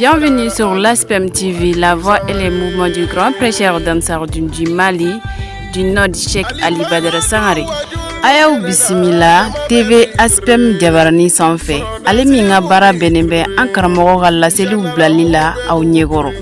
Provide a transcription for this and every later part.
Bienvenue sur l'ASPEM TV, la voix et les mouvements du grand prêcheur d'Ansar Dine du Mali, du Nord Cheikh Ali Badara Sangare. Ayaw bisimila TV ASPEM Jabarani sanfɛ. Ale min ka baara bɛnnen bɛ an karamɔgɔ ka laseliw bilali la aw ɲɛkɔrɔ.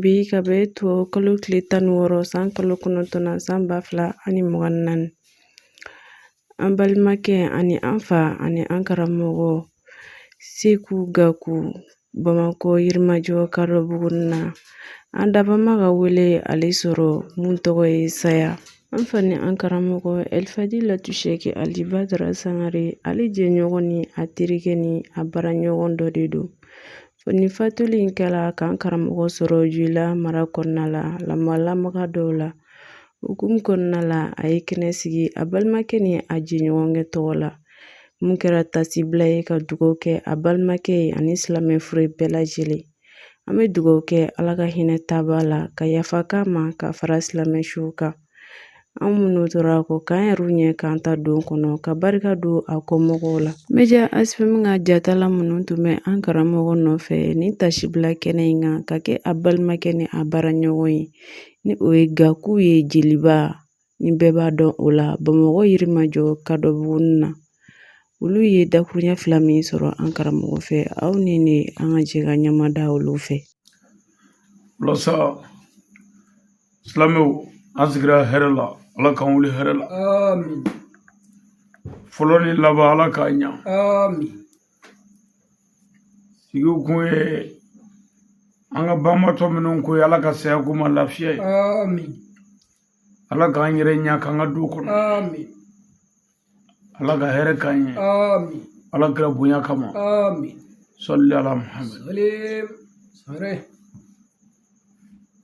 Bi ka bɛn tubabukalo tile tan ni wɔɔrɔ san kalo kɔnɔntɔn na san ba fila ani mugan ni naani an balimakɛ ani an fa ani an karamɔgɔ seku gaku bamakɔ yirimajɔ kadɔbugunin na an dabaa ma ka wele ale sɔrɔ mun tɔgɔ ye saya an fa ni an karamɔgɔ ɛlifadilatu shɛki ali badara sangare ale jɛɲɔgɔn ni a terikɛ ni a baaraɲɔgɔn dɔ de don Fo ni fatuli in kɛra k'an karamɔgɔ sɔrɔ joyila mara kɔnɔna la lamalamaga dɔw la hukumu kɔnɔna la a ye kɛnɛ sigi a balimakɛ ni a jɛɲɔgɔnkɛ tɔgɔ la mun kɛra taasibila ye ka dugawu kɛ a balimakɛ ye ani silamɛ fure bɛɛ lajɛlen an bɛ dugawu kɛ ala ka hinɛ taabaa la ka yafa k'a ma k'a fara silamɛ suw kan An minnu tora kɔ k'an yɛrɛ ɲɛ k'an ta don kɔnɔ ka barika don a kɔmɔgɔw la media ASPEM ka jatala minnu tun bɛ an karamɔgɔ nɔfɛ ni taasibila kɛnɛ in kan ka kɛ a balimakɛ ni a baaraɲɔgɔn ye ni o ye gaku ye jeliba ni bɛɛ b'a dɔn o la bamakɔ yirimajɔ kadɔbugunin na olu ye dakuruɲɛ fila min sɔrɔ an karamɔgɔ fɛ aw ni ne an ka jɛ ka ɲɛmada olu fɛ walasa silamɛw an sigira hɛrɛ la ala k'an wuli hɛrɛ la fɔlɔ ni laban ala k'a ɲa sigi kun ye an ka banbaatɔ minnu ko ye ala ka saya k'u ma lafiya ye ala k'an yɛrɛ ɲa k'an ka don kɔnɔ ala ka hɛrɛ k'an ye ala kira bonya kama sali ala muhamadu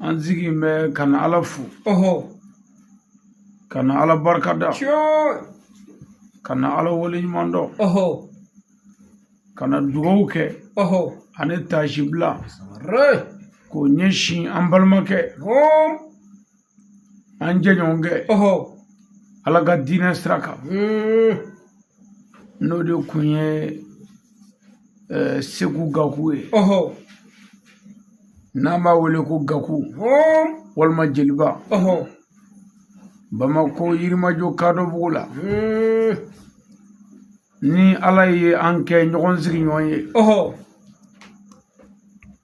an sigin bɛ ka na ala fo ka na ala barika da ka na ala waleɲumandɔn ka na dugawu kɛ ani taasibila k'o ɲɛsin an balimakɛ An jɛɲɔgɔnkɛ ala ka diinɛ sira kan n'o de kun ye seku gaku ye n'an b'a wele ko gaku walima jeliba bamakɔ yirimajɔ kadɔbugu la ni ala ye an kɛ ɲɔgɔn sigiɲɔgɔn ye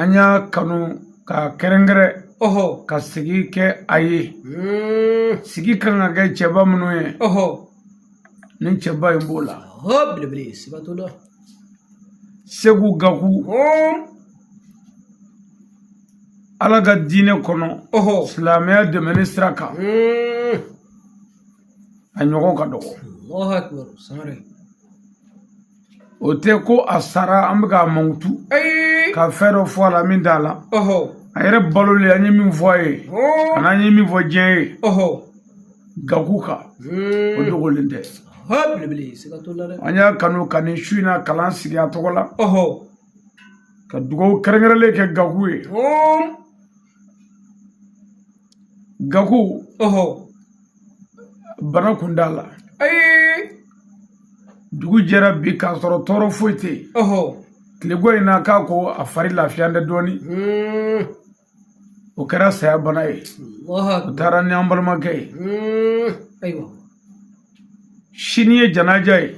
an y'a kanu k'a kɛrɛnkɛrɛn ɔhɔ ka sigi kɛ a ye sigi kan ka kɛ cɛba minnu ye ɔhɔ ni cɛba in b'o la hɔ belebele sibato la seku gaku ala ka diinɛ kɔnɔ ɔhɔ silamɛya dɛmɛni sira kan a ɲɔgɔn ka dɔgɔ Allahu akbar sangare o tɛ ko a sara an bɛ k'a mankutu ka fɛn dɔ fɔ a la min t'a la a yɛrɛ balolen an ye min fɔ a ye ani an ye min fɔ diɲɛ ye gaku kan hmm. o dogolen tɛ an y'a kanu ka nin su in na kalan sigi a tɔgɔ la ka dugawu kɛrɛnkɛrɛnlen kɛ gaku ye gaku ɔhɔ bana kuntaala ee dugu jɛra bi k'a sɔrɔ tɔɔrɔ foyi tɛ yen ɔhɔ tilegan in na k'a ko a fari lafiyalen tɛ dɔɔnin hmm. o kɛra saya bana ye o taara ni an balimakɛ ye hmm. ayiwa sini ye janaja ye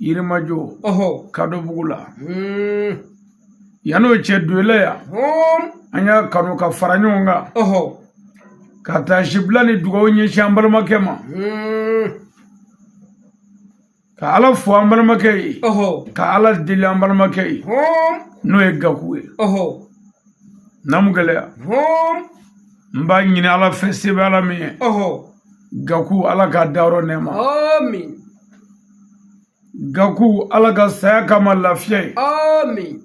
yirimajɔ kadɔbugu la hmm. yan'o cɛ doyɛlɛ yan an y'a kanu ka fara ɲɔgɔn kan ka taasibila ni dugawu ɲɛsin an balimakɛ ma hmm. ka ala fo an balimakɛ ye ka ala deli an balimakɛ ye n'o ye gaku ye namu gɛlɛya n b'a ɲini ala fɛ se bɛ ala min ye gaku ala ka dayɔrɔ nɛɛma amin gaku ala ka saya k'a ma lafiya ye amin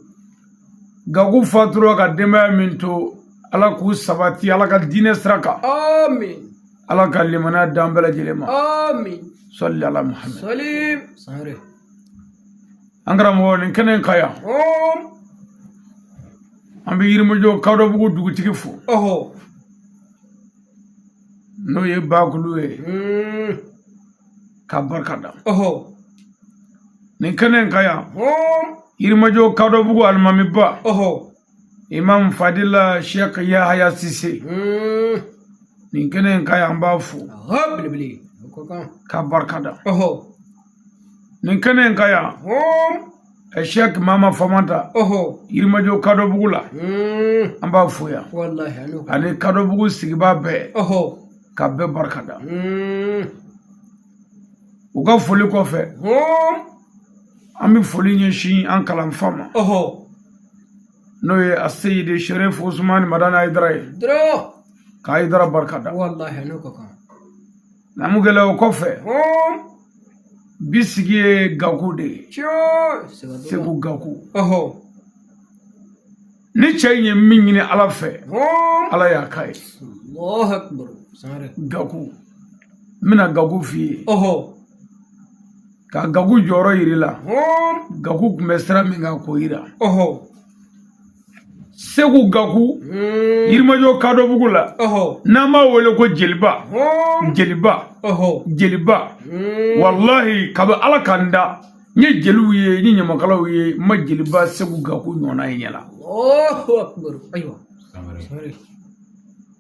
gaku fatura ka denbaya min to ala k'u sabati ala ka diinɛ sira kan amin ala ka limaniya d'an bɛɛ lajɛlen ma amin sali ala muhamad salim sangare an karamɔgɔ nin kɛnɛ in kan yan an bɛ yirimajɔ kadɔbugu dugutigi fo n'o ye bakulu ye hmm. k'a barika da nin kɛnɛ in kan yan yirimajɔ kadɔbugu alimamiba imam fadila sheikh yahaya sise hmm. nin kɛnɛ in kan yan an b'a fo k'a barika da nin kɛnɛ in kan yan sheikh mama famanta yirimajɔ kadɔbugu la hmm. an b'a fo yan ani kadɔbugu sigibaa bɛɛ ka bɛɛ barika da hmm. u ka foli kɔfɛ an bɛ foli ɲɛsin an kalanfa ma n'o ye a seyidi sherif usumani madani ayidara ye ka ayidara barika da Namukɛlɛ o kɔfɛ bi sigi ye gaku de ye segu gaku ni cɛ in ye min ɲini ala fɛ ala y'a k'a ye gaku n bɛna gaku f'i ye ka gaku jɔyɔrɔ yir'i la gaku tun bɛ sira min kan k'o yira segu gaku hmm. yirimajɔ kadɔbugu la n'an b'a wele ko jeliba jeliba jeliba hmm. walahi kabi ala ka n da n ye jeliw ye n ye ɲamakalaw ye n ma jeliba segu gaku ɲɔgɔnna ye ɲɛ la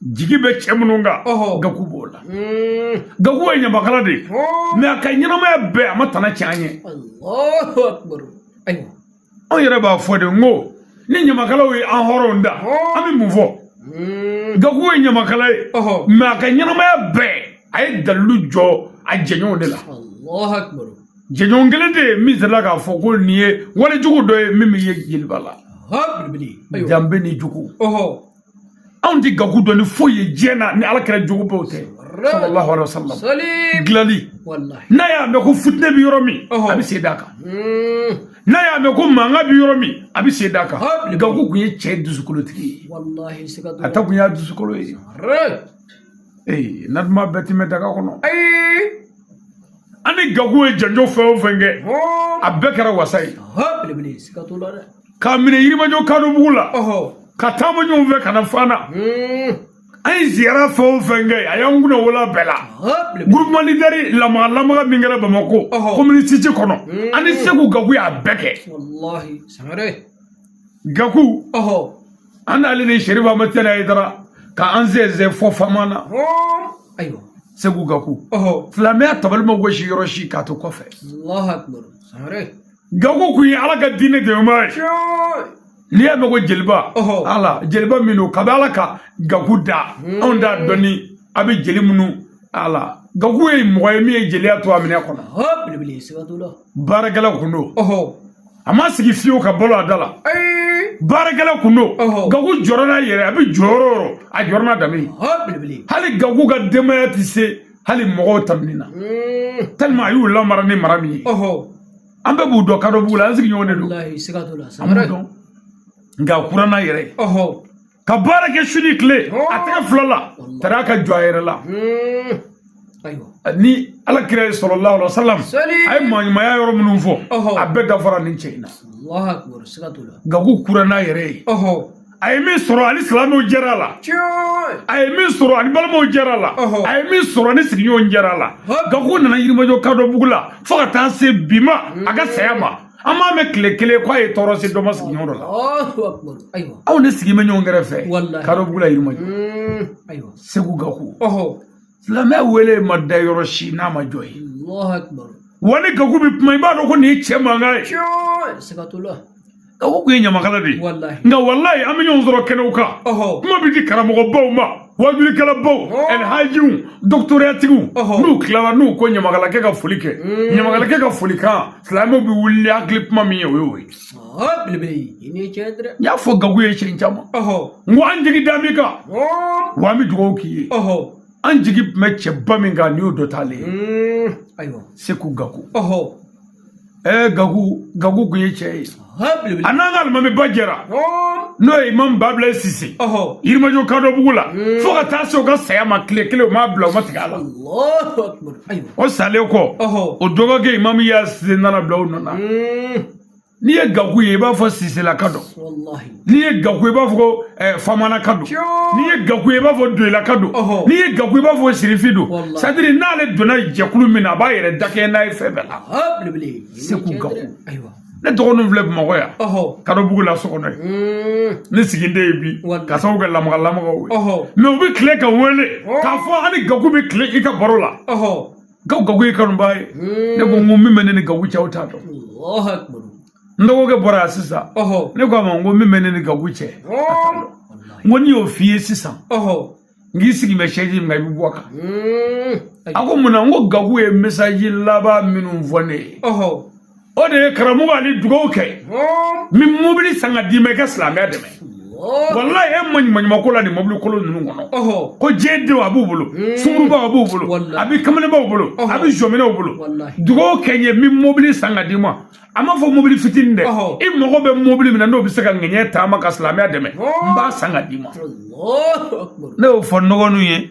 jigi bɛ cɛ minnu kan gaku b'o la gaku ye ɲamakala de ye mɛ a ka ɲɛnamaya bɛɛ a ma tana cɛn an ye anw yɛrɛ b'a fɔ de n ko ni ɲamakalaw ye an hɔrɔnw da an bɛ mun fɔ gaku ye ɲamakala ye mɛ a ka ɲɛnamaya bɛɛ a ye dalilu jɔ a jɛɲɔgɔn de la jɛɲɔgɔn kelen tɛ yen min sera k'a fɔ ko nin ye walejugu dɔ ye min bɛ ye jeliba la danbe ni jogo anw tɛ gaku dɔn ni foyi ye diɲɛ na ni ala kira jogo bɛɛ tɛ sallallahu alaihi wasallam gilali n'a y'a mɛn ko fitinɛ bɛ yɔrɔ min a bɛ sen d'a kan hmm. n'a y'a mɛn ko mankan bɛ yɔrɔ min a bɛ sen d'a kan gaku kun ye cɛ dusukolotigi ye a ta kun y'a dusukolo ye ee na duman bɛɛ tɛ mɛn daga kɔnɔ an ni gaku ye janjo fɛn o fɛn kɛ a bɛɛ kɛra wasa ye k'a minɛ yirimajɔ kadɔbugu la ka taama ɲɔgɔn fɛ ka na fana hmm. an ye ziyara fɛn o fɛn kɛ a y'an kunna wolo bɛɛ la groupement leader lamaga lamaga min kɛra bamakɔ commune six kɔnɔ hmm. an ni segu gaku y'a bɛɛ kɛ gaku an n'ale ni serifu madani ayidara ka an sɛnsɛn fɔ fama na ayiwa segu gaku silamɛya tabali ma gosi yɔrɔ si k'a to kɔfɛ Gaku kun ye ala ka diinɛ dɛmɛbaa ye n'i y'a mɛn ko jeliba ala jeliba min don kabi ala ka gaku da anw t'a dɔn ni a bɛ jeli minnu ala gaku ye mɔgɔ ye min ye jeliya to a minɛn kɔnɔ baarakɛla kun don a ma sigi fiyewu ka balo a da la baarakɛla kun don gaku jɔra n'a yɛrɛ a bɛ jɔ yɔrɔ o yɔrɔ a jɔra n'a danbe ye hali gaku ka denbaya tɛ se hali mɔgɔw tamini na tellement a y'u lamara ni mara min ye an bɛɛ b'u dɔn kadɔbugu la an sigiɲɔgɔn de don an b'u dɔn nka a kura n'a yɛrɛ ye ka baara kɛ su ni tile a tɛgɛ fila la tara ka jɔ a yɛrɛ la ni ala kira ye sallallahu alaihi wasallam a ye maaɲumanya yɔrɔ minnu fɔ a bɛɛ dafara nin cɛ in na gaku kura n'a yɛrɛ ye a ye min sɔrɔ ani silamɛw jɛra a la a ye min sɔrɔ ani balimaw jɛra a la a ye min sɔrɔ ni sigiɲɔgɔn jɛra a la gaku nana yirimajɔ kadɔbugu la fo ka taa se bi ma a ka saya ma an m'a mɛn tile kelen k'a ye tɔɔrɔ se dɔ ma sigiɲɔgɔn dɔ la aw ne sigi bɛ ɲɔgɔn kɛrɛfɛ kadɔbugu la yirimajɔ seku gaku silamɛ wele ma da yɔrɔ si n'a ma jɔ yen wa ni gaku bɛ kuma i b'a dɔn ko nin ye cɛ mankan ye gaku kun ye ɲamakala de ye nka walayi an bɛ ɲɔgɔn sɔrɔ kɛnɛw kan kuma bɛ di karamɔgɔbaw ma wajulikɛlabaw ɛlhajiw dɔkitɔratigiw n'u tilala n'u ko ɲamakalakɛ ka foli kɛ ɲamakalakɛ ka folikan silamɛw bɛ wuli ni hakili kuma min ye o y'o ye y'a fɔ gaku ye siɲɛ caman n ko an jigi da min kan wa an bɛ dugawu k'i ye an jigi tun bɛ cɛba min kan ni o dɔ t'ale ye seku gaku ɛɛ gaku gaku kun ye cɛ ye a n'an ka alimamiba jɛra n'o ye imam babila sise yirimajɔ kadɔbugu la fo ka taa se o ka saya ma tile kelen u m'a bila u ma tigɛ a la o salen kɔ o dɔgɔkɛ imam ya sise nana bila o nɔ na n'i ye gaku ye i b'a fɔ siselaka don n'i ye gaku ye i b'a fɔ ko eh, famanaka don n'i ye gaku ye i b'a fɔ doyilaka don n'i ye gaku ye i b'a fɔ sirifi don sadiri n'ale donna jɛkulu min na a b'a yɛrɛ dakɛɲɛ n'a ye fɛn bɛɛ la ah, seku gaku ne dɔgɔninw filɛ bamakɔ yan kadɔbugu la so kɔnɔ yen mm. ne siginen ye bi ka sababu kɛ lamaga lamagaw ye mɛ u bɛ tile ka wele k'a fɔ an ni gaku bɛ tile i ka baro la gaw gaku y'i kanubaa ye ne ko n ko min bɛ ne ni gaku cɛ aw t'a dɔn n dɔgɔkɛ bɔra yan sisan ne ko a ma n ko min bɛ ne ni gaku cɛ n ko ni n y'o f'i ye sisan n k'i sigi bɛ sɛji min kan i bɛ bɔ a kan a ko mun na n ko gaku ye mesaji laban minnu fɔ ne ye o de ye karamɔgɔ ali dugawu kɛ n bɛ mobili san ka d'i ma i ka silamɛya dɛmɛ walayi e ma ɲuman ko la nin mobili kolon ninnu kɔnɔ ko diɲɛ denw a b'u bolo hmm. sungurunbaw a b'u bolo a bɛ kamalenbaw bolo a bɛ jɔminɛw bolo dugawu kɛ n ye n bɛ mobili san ka d'i ma a ma fɔ mobili fitinin dɛ i mago bɛ mobili min na n'o bɛ se ka diɲɛ taama ka silamɛya dɛmɛ n b'a san ka d'i ma ne y'o fɔ n dɔgɔninw ye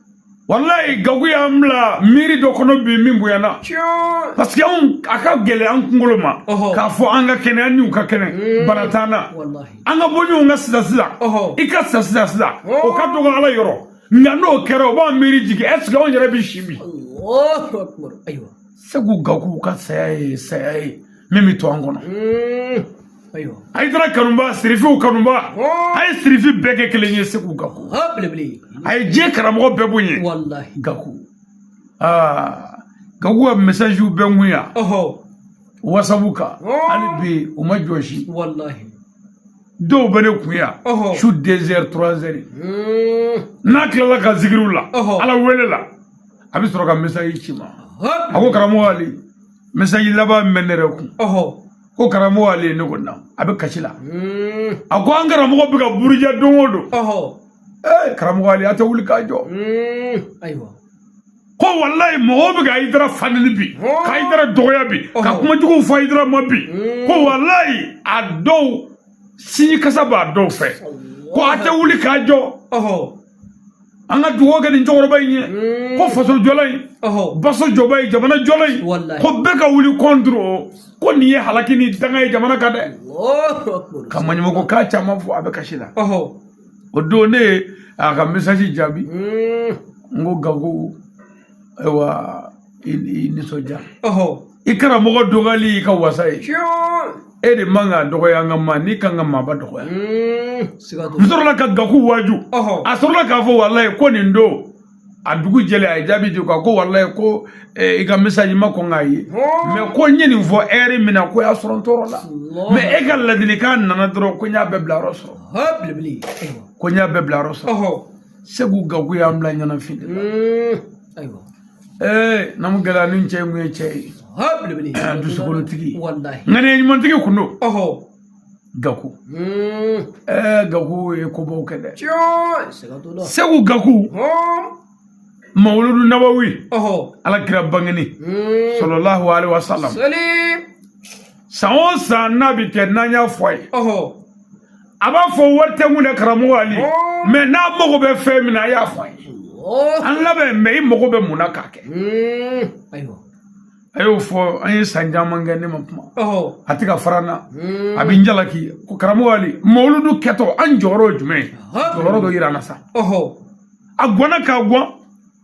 walayi gaku y'an bila miiri dɔ kɔnɔ bi min bonyana parce que anw a ka gɛlɛ an kunkolo ma k'a fɔ an ka kɛnɛ an n'u ka kɛnɛ mm. bana t'an na an ka bɔ ɲɔgɔn kan sisan sisan i ka sisan sisan sisan o ka dɔgɔ ala yɔrɔ nka n'o kɛra o b'an miiri jigin ɛseke anw yɛrɛ bɛ si bi segu gaku ka saya ye saya ye min bɛ to an kɔnɔ ayidara kanuba sirifiw kanuba a ye sirifi bɛɛ kɛ kelen ye segu gaku a ye diɲɛ karamɔgɔ bɛɛ bonya gaku aa gaku ka mɛsaziw bɛ n kun yan wasabu kan hali bi u ma jɔsi dɔw bɛ ne kun yan su deux heures trois heures n'a tilala ka zikiriw la ala wele la a bɛ sɔrɔ ka mɛsazi ci n ma a ko karamɔgɔ ali mɛsazi laban min ne yɛrɛ kun ko karamɔgɔ ali ne ko na a bɛ kasi la hmm. a ko an karamɔgɔ bɛ ka buruja don o don ee karamɔgɔ ali a tɛ wuli k'a jɔ hmm. ayiwa ko walayi mɔgɔw bɛ ka ayidara fanili bi ka ayidara dɔgɔya bi ka kumajuguw fɔ ayidara ma bi hmm. ko walayi a dɔw sinji kasa b'a dɔw fɛ ko a tɛ wuli k'a jɔ an ka dugawu kɛ nin cɛkɔrɔba in ye ko faso jɔla in baso jɔba ye jamana jɔla in ko bɛɛ ka wuli contre o ko nin ye halaki ni danga ye jamana kan dɛ ka maɲumanko kan caman fɔ a bɛ kasi la o don ne ye a ka mesasi jaabi n ko gaku ayiwa i nisɔndiya i karamɔgɔ dɔgɔyali y'i ka wasa ye e de man ka dɔgɔya nka maanin kan ka maaba dɔgɔya hmm, n sɔrɔla ka gaku waaju a sɔrɔla k'a fɔ walayi ko nin don a dugu jɛlen a ye jaabi di ko ko walayi ko eh, i ka mɛsazi n ma kɔn k'a ye mɛ ko n ye nin fɔ ɛri min na ko y'a sɔrɔ n tɔɔrɔla mɛ e ka ladilikan nana dɔrɔn ko n y'a bɛɛ bila yɔrɔ sɔrɔ ko n y'a bɛɛ bila yɔrɔ sɔrɔ segu gaku y'an bila ɲɛnafin de la ayiwa ee naamu gɛlɛya ni cɛ ye mun ye cɛ ye dusukolotigi ŋaniya ɲumantigi tun don gaku ɛɛ gaku ye kobaw kɛ dɛ segu gaku mawuludu nabawi ala kira bangeni salalahu alaihi wasalam san o san n'a bi kɛ n'an y'a fɔ a ye a b'a fɔ wari tɛ mun na karamɔgɔ ali mɛ n'a mago bɛ fɛn min na a y'a fɔ an ye an labɛn mɛ i mago bɛ mun na k'a kɛ a y'o fɔ an ye san caman kɛ ne ma kuma a tɛ ka fara n na a bɛ n jalaki ko karamɔgɔ ali mawuludu kɛtɔ an jɔyɔrɔ ye jumɛn ye jɔyɔrɔ dɔ yira an na sa a gɔnna k'a gɔn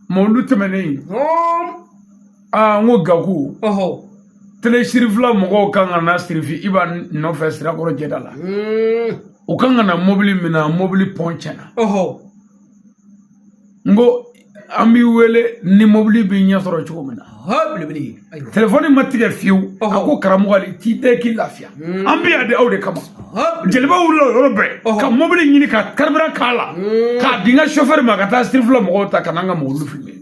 mawuludu tɛmɛnen ye aa n ko gaku tele sirifila mɔgɔw kan ka na sirifi iba nɔfɛ sirakɔrɔ jɛda la u kan ka na mobili min na mobili pɔn cɛnna n ko an b'i wele ni mobili b'i ɲɛ sɔrɔ cogo min na telefɔni ma tigɛ fiyewu a ko karamɔgɔ ali t'i dɛn k'i lafiya an bɛ yan de aw de kama jeliba wulila o yɔrɔ bɛɛ ka mobili ɲini ka carburant k'a la k'a di n ka sofɛri ma ka taa sirifila mɔgɔw ta ka n'an ka mɔbili fili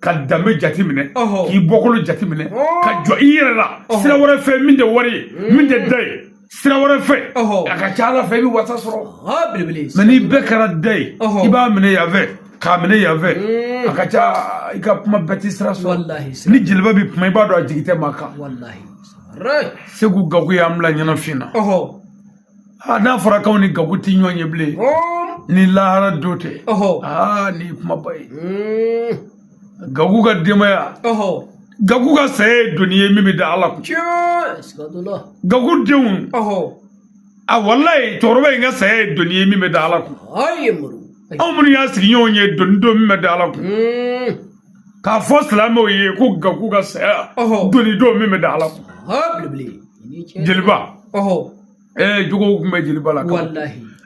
ka danbe jateminɛ k'i bɔkolo jateminɛ ka jɔ i yɛrɛ la sira wɛrɛ fɛ min tɛ wari ye mm. min tɛ da ye sira wɛrɛ fɛ a ka ca ala fɛ i bɛ wasa sɔrɔ mɛ n'i bɛɛ kɛra da ye i b'a minɛ yan fɛ k'a minɛ yan fɛ mm. a ka ca i ka kuma bɛɛ tɛ sira sɔrɔ ni jeliba bɛ kuma i b'a dɔn a jigi tɛ maa kan segu gaku y'an bila ɲɛnafin na a n'a fɔra k'anw ni gaku ti ɲɔgɔn ye bilen ni lahara don tɛ aa ni kumaba ye hmm. gaku ka denbaya gaku ka saya ye doni ye min bɛ da ala kun gaku denw a walayi cɛkɔrɔba in ka saya ye doni ye min bɛ da ala kun anw minnu y'a sigiɲɔgɔn ye doni don min bɛ da ala kun hmm. k'a fɔ silamɛw ye ko gaku ka saya doni don min bɛ da ala kun jeliba ee jogow tun bɛ jeliba la k'an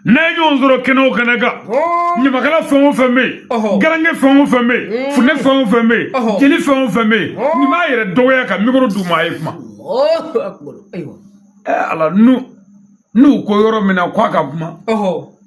n'a ye ɲɔgɔn sɔrɔ kɛnɛ o kɛnɛ kan ɲamakala fɛn o fɛn bɛ yen garange fɛn o fɛn bɛ yen funɛ fɛn o fɛn bɛ yen jeli fɛn o fɛn bɛ yen nin b'a yɛrɛ dɔgɔya ka mikoro d'u ma a ye kuma ala n'u n'u ko yɔrɔ min na k'a ka kuma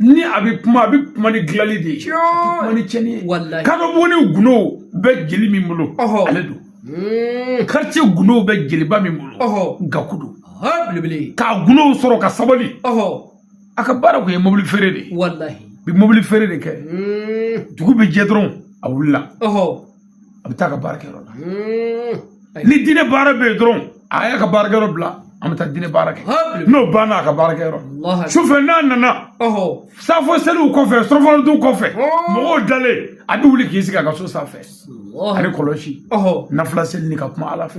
ni a bɛ kuma a bɛ kuma ni dilanli de ye kuma ni cɛnni ye kadɔbuguni gundo bɛ jeli min bolo ale don karice hmm. gundo bɛ jeliba min bolo gaku don ka gundow sɔrɔ ka sabali a ka baara kun ye mobili feere de ye bi mobili feere de kɛ hmm. dugu bɛ jɛ dɔrɔn a wulila a bɛ taa ka baarakɛyɔrɔ la ni diinɛ baara bɛ yen dɔrɔn a y'a ka baarakɛyɔrɔ bila an bɛ taa diinɛ baara kɛ n'o banna a ka baarakɛyɔrɔ sufɛ n'a nana safo seliw kɔfɛ surɔfana dun kɔfɛ mɔgɔw dalen a bɛ wuli k'i sigi a ka so sanfɛ a ni kɔlɔsi nafila seli ni ka kuma ala fɛ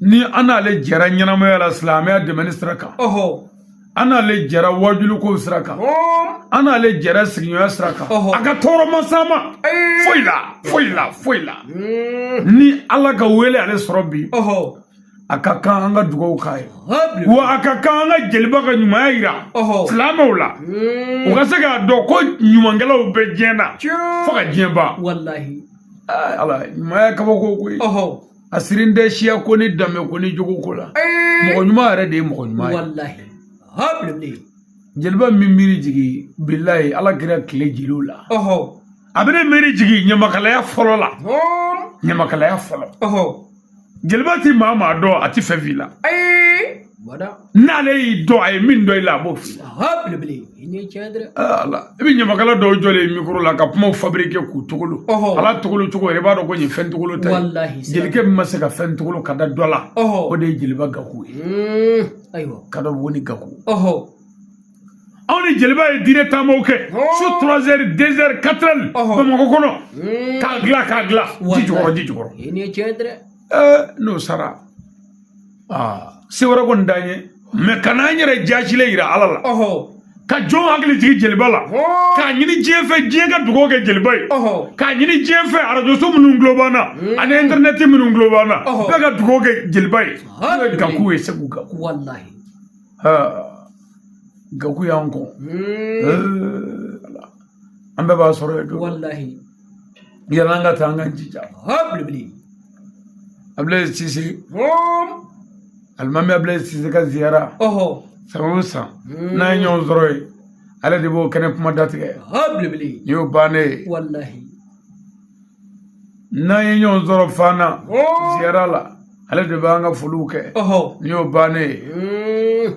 ni an n'ale jɛra ɲɛnamaya la silamɛya dɛmɛni sira kan an n'ale jɛra wajuliko sira kan an n'ale jɛra sigiɲɔgɔnya sira kan a ka tɔɔrɔ ma s'an ma foyi la foyi la foyi la hmm. ni ala ka wele ale sɔrɔ bi a ka kan an ka dugawu k'a ye wa a ka kan an ka jeliba ka ɲumanya yira silamɛw la hmm. u ka se k'a dɔn ko ɲumankɛlaw bɛ diɲɛ na fo ka diɲɛ ban ala ɲumanya kabako koyi a sirin tɛ siya ko ni danbe ko ni jogo ko la mɔgɔ ɲuman yɛrɛ de ye mɔgɔ ɲuman ye walahi ha bilen jeliba bi n miiri jigin bilayi ala kira tile jeliw la ɔhɔ a bɛ ne miiri jigin ɲamakalaya fɔlɔ la ɲamakalaya fɔlɔ ɔhɔ jeliba ti maa maa dɔn a ti fɛn f'i la n'ale y'i dɔn a ye min dɔn i la a b'o f'i ala i bɛ ɲamakala dɔw jɔlen mikoro la ka kumaw fabirike k'u togolo ala togolo cogo yɛrɛ i b'a dɔn ko nin fɛn togolo tɛ jelikɛ min ma se ka fɛn togolo ka da dɔ la o de ye jeliba gaku ye hmm, ayiwa ka dɔ bɔ ni gaku anw ni jeliba ye diinɛ taamaw kɛ su trois heures deux heures quatre heures bamakɔ kɔnɔ hmm. k'a dilan k'a dilan ji jukɔrɔ ji jukɔrɔ n'o sara se wɛrɛ kɔni t'an ye mais ka n'an yɛrɛ jaasilen yira ala la ka jɔn hakili jigin jeliba la k'a ɲini diɲɛ fɛ diɲɛ ka dugawu kɛ jeliba ye k'a ɲini diɲɛ fɛ arajoso minnu tulo b'an na hmm. ani intɛrɛnɛti minnu tulo b'an na bɛɛ ka dugawu kɛ jeliba ye gaku ye segu ka k'u gaku y'an kɔ hmm. an bɛɛ b'a sɔrɔ ye don walahi yala an ka taa an ka jija belebele abulayi sise alimami abulayi sise ka ziyara san o san n'an ye ɲɔgɔn sɔrɔ yen ale de b'o kɛnɛ kuma datigɛ belebele nin y'o bannen ye walahi n'an ye ɲɔgɔn sɔrɔ fana ziyara la ale de b'an ka foliw kɛ nin y'o bannen ye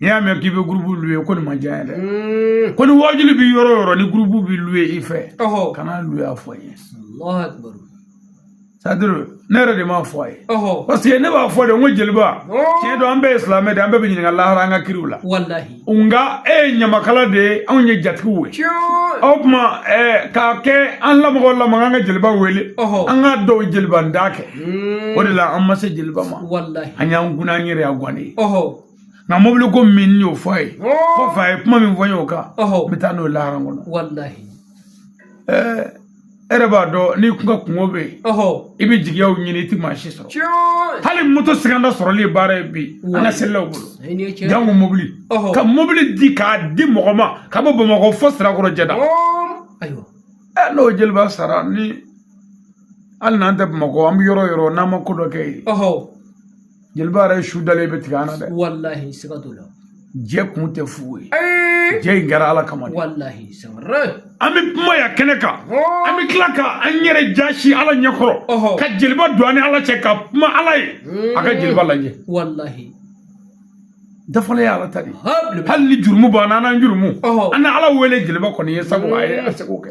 n y'a mɛn k'i bɛ gurupu luwe ko nin ma diya n ye dɛ mm. ko ni wajuli bɛ yɔrɔ o yɔrɔ ni gurupu bɛ luwe i fɛ kana luwe a fɔ n ye sadiri ne yɛrɛ de m'a fɔ a ye parce que ne b'a fɔ de n ko jeliba tiɲɛ don an bɛɛ ye silamɛ de an bɛɛ bɛ ɲininka lahara an ka kiiriw la nka e ye ɲamakala de ye anw ye jatigiw ye o tuma k'a kɛ an lamɔgɔ lamɔgɔ an ka jeliba wele an ka dɔw jeliba nda kɛ o de la an ma se jeliba ma an y'an kun an yɛrɛ y'a gan ye nka mobili ko min y'o fɔ a ye kɔfɛ a ye kuma min fɔ n y'o kan n bɛ taa n'o lahara kɔnɔ e yɛrɛ b'a dɔn n'i kun ka kunko bɛ yen i bɛ jigiyaw ɲini i tɛ maa si sɔrɔ hali moto sɛgɛnda sɔrɔli ye baara ye bi an ka selilaw bolo janko mobili ka mobili di k'a di mɔgɔ ma ka bɔ bamakɔ fo sirakɔrɔ jɛda n'o jeliba sara ni hali n'an tɛ bamakɔ an bɛ yɔrɔ o yɔrɔ n'an ma ko dɔ kɛ yen jeliba yɛrɛ su dalen bɛ tigɛ an na dɛ walahi siga t'o la jɛ kun tɛ fu ye jɛ in kɛra ala kama de walahi an bɛ kuma yan kɛnɛ kan an bɛ tila ka an yɛrɛ jaasi ala ɲɛkɔrɔ ka jeliba don an ni ala cɛ ka kuma ala ye a ka jeliba lajɛ walahi dafalen ye ala ta de ye hali ni jurumu b'an na an n'an jurumu an na ala wele jeliba kɔni ye sabu a ye a seko kɛ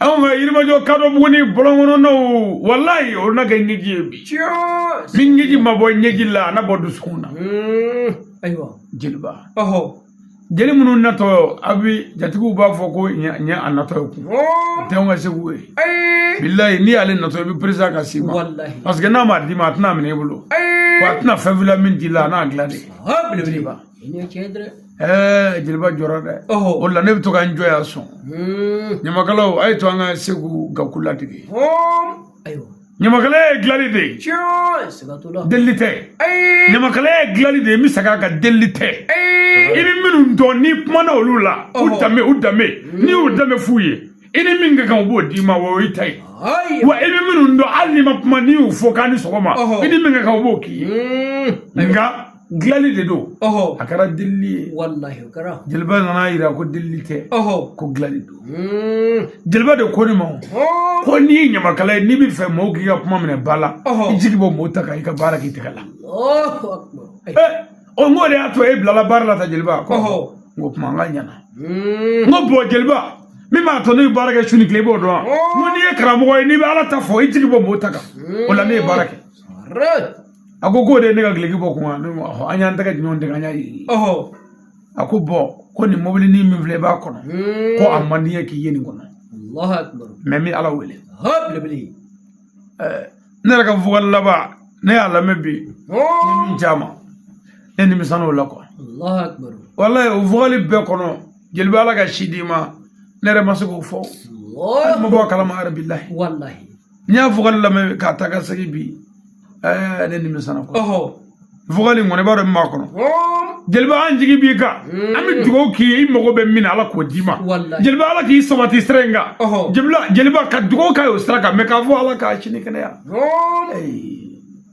anw ka yirimajɔ kadɔbuguni bɔlɔn kɔnɔnaw walayi o na kɛ ɲɛji ye bi ni ɲɛji ma bɔ ɲɛji la a na bɔ dusukun na ayiwa jeliba jeli minnu natɔ a bi jatigiw b'a fɔ ko ɲɛ a natɔ ye kun o tɛ anw ka segu ye bilayi n'i y'ale natɔ i bɛ peresa ka s'i ma parce que n'a ma d'i ma a tɛna minɛ i bolo wa a tɛna fɛn fila min d'i la a n'a dilan de belebeleba jeliba jɔra dɛ o la ne bɛ to ka n jɔ yan sɔn ɲamakalaw a y'a to an ka segu gaku ladege ɲamakala ye dilanli de ye delili tɛ ɲamakala ye dilanli de ye n bɛ segin a kan delili tɛ i ni minnu don n'i kumana olu la u danbe u danbe n'i y'u danbe f'u ye i ni min ka kan u b'o d'i ma o y'i ta ye wa i bɛ minnu dɔn hali n'i ma kuma n'i y'u fo k'a ni sɔgɔma i ni min ka kan u b'o k'i ye nka dilanli de don ɔhɔ a kɛra delili ye walahi o kɛra jeliba nana a yira ko delili tɛ ɔhɔ ko dilanli don Mm. jeliba de ko ne ma o, Ɔɔ. ko n'i ye ɲamakala ye n'i b'a fɛ mɔgɔw k'i ka kuma minɛ ba la Ɔhɔ. i jigi bɔ mɔgɔw ta kan i ka baara k'i tɛgɛ la Allahu akbar. Ai. Eh, o n k'o de y'a to e bilala baara la tan jeliba ko Ɔhɔ. n ko kuma an ka ɲana Mm. n ko bɔn jeliba min b'a to ne bɛ baara kɛ su ni tile i b'o dɔn wa? n ko n'i ye karamɔgɔ ye n'i bɛ ala ta fɔ i jigi bɔ mɔgɔw ta kan o la ne ye baara kɛ Re. a ko k'o de ye ne ka gileki bɔ kuma ne ma an y'an tɛgɛ ɲɔgɔn tɛgɛ an y'a ye a ko bɔn ko nin mobilinin min filɛ i b'a kɔnɔ ko a man di ye k'i ye nin kɔnɔ mɛ n bɛ ala wele ne yɛrɛ ka vɔkali laban ne y'a lamɛn bi ne min caman ne nimisana o la kuwa walayi o vɔkali bɛɛ kɔnɔ jeliba ala ka si d'i ma ne yɛrɛ ma se k'o fɔ hali n ma bɔ a kalama yɛrɛ bilahi n y'a vɔkali lamɛn k'a ta ka segin bi ɛɛ ne nimisana kuwa vɔkali in kɔni i b'a dɔn min b'a kɔnɔ jeliba an jigi b'i kan an bɛ dugawu k'i ye i mago bɛ min na ala k'o d'i ma jeliba ala k'i sabati sira in kan jeliba jeliba ka dugawu k'a ye o sira kan mɛ k'a fɔ ala ka si ni kɛnɛya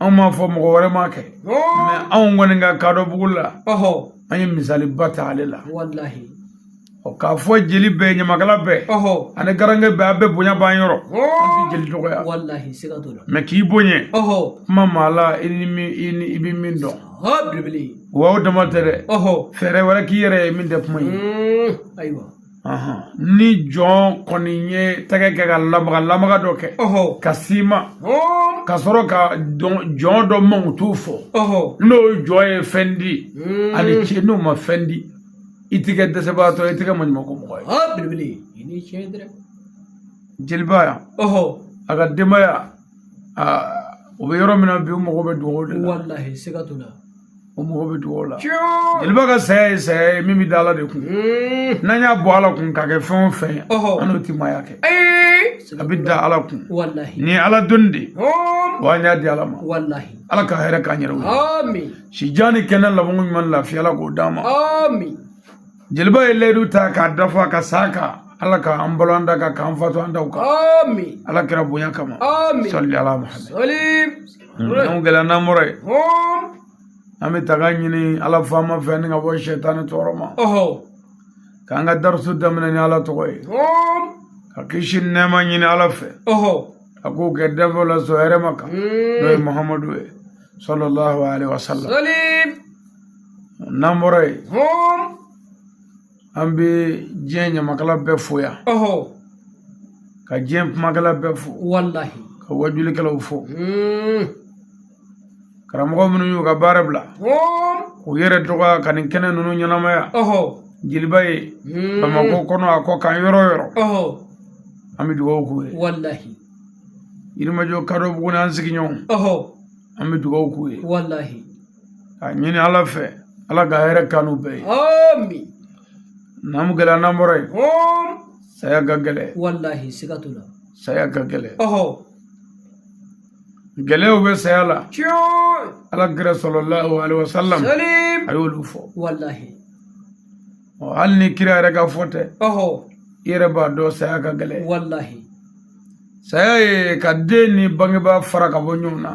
anw m'a fɔ mɔgɔ wɛrɛ m'a kɛ anw kɔni ka kadɔbugu la an ye misaliba ta ale la k'a fɔ jeli bɛɛ ɲamakala bɛɛ ani garankɛ bɛɛ a bɛɛ bonya b'an yɔrɔ an tɛ jeli dɔgɔya mɛ k'i bonya kuma maa la i bɛ min dɔn wa o dama tɛ dɛ fɛɛrɛ wɛrɛ k'i yɛrɛ ye min tɛ kuma ye ni jɔn kɔni ye tɛgɛ kɛ ka lamaga lamaga dɔ kɛ ka sima ka sɔrɔ ka jɔn dɔ mankutu fɔ n'o jɔn ye fɛn di hmm. a ni ce n'o ma fɛn di i tɛ kɛ dɛsɛbagatɔ i tɛ kɛ maɲumanko mɔgɔ ye jeliba yan a ka denbaya u bɛ yɔrɔ min na bi u mago bɛ dugawu de la o mago bɛ dugawu la jeliba ka saya ye saya ye min bɛ da ala de kun mm. n'an y'a bɔ ala kun k'a kɛ fɛn o fɛn ye an n'o ti maaya kɛ a bɛ da ala kun nin ye ala dɔnni de ye wa an y'a di ala ma ala ka hɛrɛ k'an yɛrɛ ye si jan ni kɛnɛya labanko ɲuman lafiya ala k'o d'an ma jeliba ye layidu ta k'a dafa ka sa a kan ala ka an balo an da kan k'an fatu an daw kan ami ala kira bonya kama ami salli ala muhammad salim namu jeliba n'an bɔra yen an bɛ tanga ɲini ala faama fɛ ni ka bɔ sɛtani tɔɔrɔ ma k'an ka darisi daminɛ ni ala tɔgɔ ye ka kisi nɛɛma ɲini ala fɛ a k'o kɛ danfɛnw la sɔn hɛrɛma kan n'o ye muhamadu ye sallallahu alaihi wasallam n'an bɔra yen an bɛ diɲɛ ɲamakala bɛɛ fo yan ka diɲɛ kumakɛla bɛɛ fo walahi ka wajulikɛlaw fo hmm. karamɔgɔ minnu y'u ka baara bila u yɛrɛ dɔgɔya ka nin kɛnɛ ninnu ɲɛnamaya jeliba ye hmm. bamakɔ kɔnɔ a kɔ kan yɔrɔ o yɔrɔ an bɛ dugawu k'u ye walahi yirimajɔ kadɔbuguni an sigiɲɔgɔn an bɛ dugawu k'u ye walahi a ɲini ala fɛ ala ka hɛrɛ k'anw bɛɛ ye namu jeliba n'an bɔra yen saya ka gɛlɛn walahi siga t'o la saya ka gɛlɛn gɛlɛyaw bɛ saya la ala kira sallallahu alaihi wasallam a y'olu fɔ walahi hali ni kira yɛrɛ ka fɔ tɛ i yɛrɛ b'a dɔn saya ka gɛlɛn walahi saya ye ka den ni bangebaa fara ka bɔ ɲɔgɔn na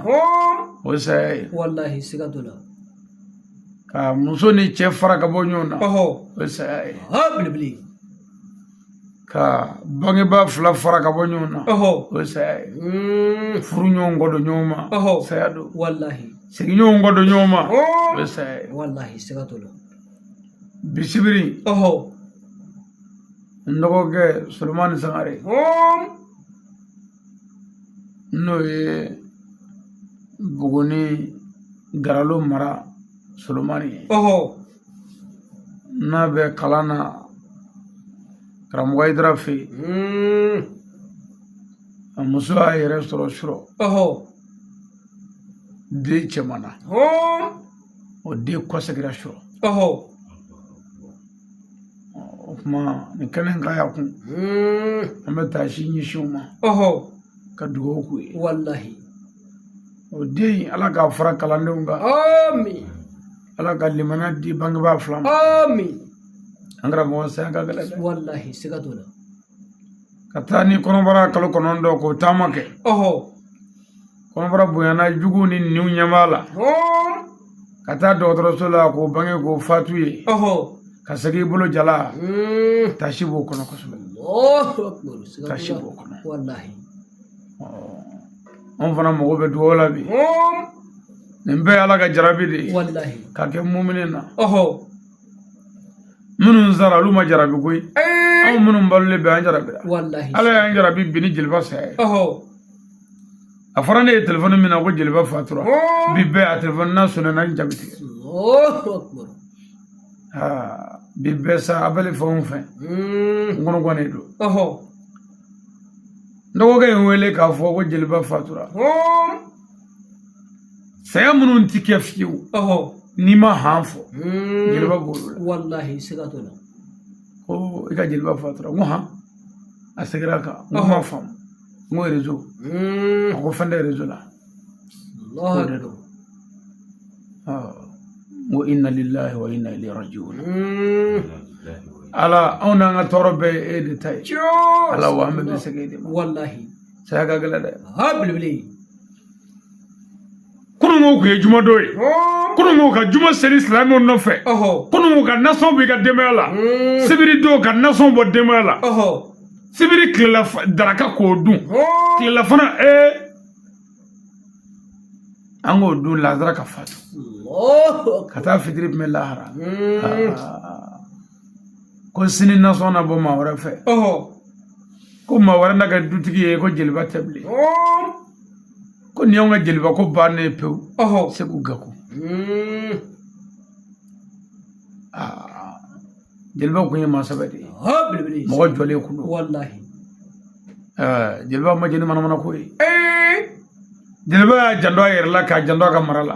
o ye saya ye walahi siga t'o la ka muso ni cɛ fara ka bɔ ɲɔgɔn na o ye saya ye belebele ka bangebaa fila fara ka bɔ ɲɔgɔn na o ye saya ye hmm. furuɲɔgɔn kɔ don ɲɔgɔn ma saya don walahi sigiɲɔgɔn kɔ don ɲɔgɔn ma o ye saya ye walahi siga t'o la bi sibiri ɔhɔ n dɔgɔkɛ solomani sangare hɔn n'o ye buguni garalo mara solomani ye ɔhɔ n'a bɛ kalan na karamɔgɔ ayidara fɛ yen hmm. a muso y'a yɛrɛ sɔrɔ surɔ ɔhɔ den cɛman na hɔn o den kɔsegira surɔ ɔhɔ o tuma nin kɛnɛ ka y'a kun an bɛ taasi ɲɛsin u ma ɔhɔ ka dugawu k'u ye walahi o den in ala k'a fara kalandenw kan amin ala ka limaniya di bangebaa fila ma amin an karamɔgɔ saya ka gɛlɛn dɛ walahi siga t'o la ka taa ni kɔnɔbara kalo kɔnɔntɔn k'o taama kɛ ɔhɔ kɔnɔbara bonyana juguw ni ninw ɲɛ b'a la ka taa dɔgɔtɔrɔso la k'o bange k'o fatu ye ka segin i bolo jalan mm. tasi b'o kɔnɔ kosɛbɛ tasi b'o kɔnɔ anw fana mago bɛ dugawu la bi nin bɛɛ ye ala ka jarabi de ye ka kɛ mumini na minnu sara olu ma jarabi koyi eh. anw minnu balolen bɛ an jarabira ala y'an jarabi bi ni jeliba saya ye a fɔra ne ye telefɔni min na ko jeliba fatura bi bɛɛ a telefɔni na sɔnna na n ja bi tigɛ bi bɛɛ sa appel fɛn o fɛn n kɔnɔ gannen don n dɔgɔkɛ ye n wele k'a fɔ ko jeliba fatura saya minnu ti kɛ fiyewu n'i ma han fɔ jeliba b'olu la ko i ka jeliba fatura n ko han a seginna a kan n ko n m'a faamu n ko rezo a ko fɛn tɛ rezo la k'o de don n ko inna lillahi wa inna ilayhi rajiun ala anw n'an ka tɔɔrɔ bɛɛ ye e de ta ye ala wa an bɛɛ bɛ segin e de ma walahi saya ka gɛlɛn dɛ ha belebele kununko kun ye jumadon ye kununko ka juma seli silamɛw nɔfɛ kununko ka nasɔn b'i ka denbaya la hmm. sibiri don ka nasɔn bɔ denbaya la sibiri tilela daraka k'o dun tilela fana ee an k'o dun lazara ka fatu ka taa fitiri tun bɛ lahara hmm. ah. ko sini nasɔn na bɔ maa wɛrɛ fɛ ko maa wɛrɛ na kɛ dutigi ye ko jeliba tɛ bilen ko nin y'anw ka jeliba ko bannen ye pewu segu gako hmm. ah, jeliba kun ye maa sɛbɛ de ye mɔgɔ jɔlen kun don eh, jeliba ma jɛn ni manamana ko ye eh. jeliba y'a janto a yɛrɛ la k'a janto a ka mara la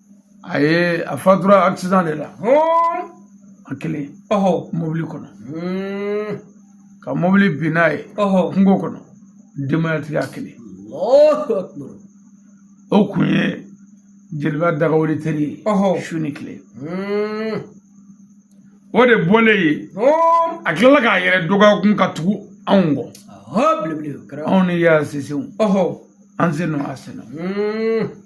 a ye a fatura accident de la a kelen mobili kɔnɔ hmm. ka mobili bin n'a ye kungo kɔnɔ denbayatigi a kelen o kun ye jeliba dagawuli teri ye su ni tile hmm. o de bɔlen ye a tilala k'a yɛrɛ dɔgɔya kun ka tugu anw kɔ anw ni y'a sisew an sen nɔ a sen na hmm.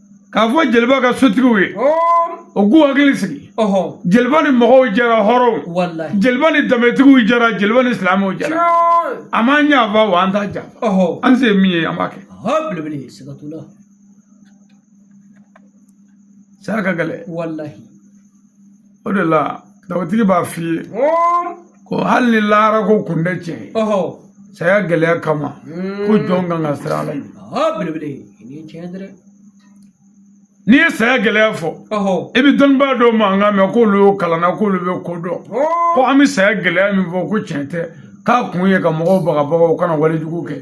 k'a fɔ jeliba ka sotigiw ye o k'u hakili sigi jeliba ni mɔgɔw jɛra hɔrɔnw jeliba ni danbetigiw jɛra jeliba ni silamɛw jɛra a m'an janfa wa an t'a janfa an se min ye an b'a kɛ saya ka gɛlɛn o de la dawutigi b'a f'i ye ko hali ni laara ko kun tɛ tiɲɛ ye saya gɛlɛya kama ko jɔn kan ka siran ala ɲɛ n'i ye saya gɛlɛya fɔ i bɛ dɔnnibaa dɔw mankan mɛn k'olu y'o kalanna k'olu bɛ ko dɔn ko an bɛ saya gɛlɛya min fɔ ko tiɲɛ tɛ k'a kun ye ka mɔgɔw bagabaga u kana walejugu kɛ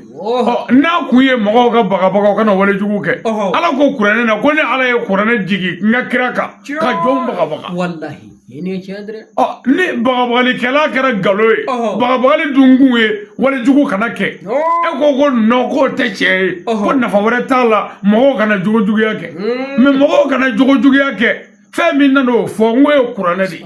n'a kun ye mɔgɔw ka bagabaga u kana walejugu kɛ ala ko kuranɛ na ko ne ala ye kuranɛ jigi n ka kira kan ka jɔnw bagabaga ni bagabalikɛla kɛra nkalon ye bagabagali dun kun ye walejugu kana kɛ e ko ko nɔ k'o tɛ tiɲɛ ye ko nafa wɛrɛ t'a la mɔgɔw kana jogojuguya kɛ hmm. mɛ mɔgɔw kana jogojuguya kɛ fɛn min nana o fɔ n k'o ye kuranɛ de ye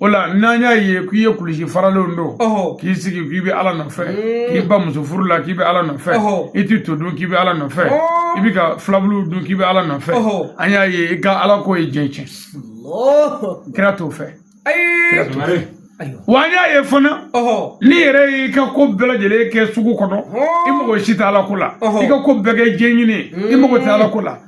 o la n'an y'a ye k'i ye kulusi faralenw don k'i sigi k'i bɛ ala nɔfɛ k'i ban muso furu la k'i bɛ ala nɔfɛ i tɛ to dun k'i bɛ ala nɔfɛ i bɛ ka fulabulu dun k'i bɛ ala nɔfɛ an y'a ye i ka ala ko ye diɲɛ tiɲɛ kira t'o fɛ kira t'o fɛ wa an y'a ye fana n'i yɛrɛ y'i ka ko bɛɛ lajɛlen kɛ sugu kɔnɔ i mago si tɛ ala ko la i ka ko bɛɛ kɛ diɲɛ ɲini i mago tɛ ala ko la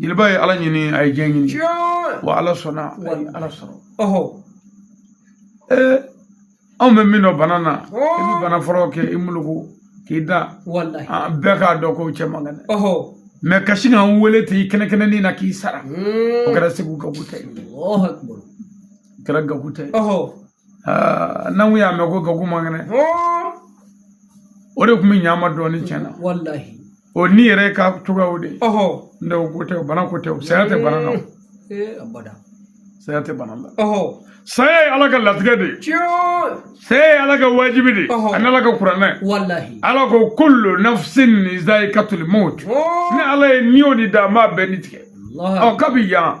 jeliba ye ala ɲini a ye diɲɛ ɲini wa ala sɔnna a ye ala sɔrɔ ee anw bɛ min dɔn bana na i bɛ bana fɔlɔ kɛ i muluku k'i da bɛɛ k'a dɔn ko cɛ man kɛnɛ mɛ kasi k'an wele ten i kɛnɛkɛnɛnin na k'i sara o kɛra segu gabu tɛ ye o kɛra gabu tɛ ye n'an y'a mɛn ko gabu man kɛnɛ o de tun bɛ ɲa an ma dɔɔnin tiɲɛ na o ni yɛrɛ ka cogoyaw de ne ko tɛ bana ko tɛ saya tɛ bana na saya tɛ bana la saya ye ala ka latigɛ de ye saya ye ala ka wajibi de ani ala ka kuranɛ ala ko kullu nafsin zaikatul maut ne ala ye ni o ni da n b'a bɛɛ ni tigɛ ɔ kabi yan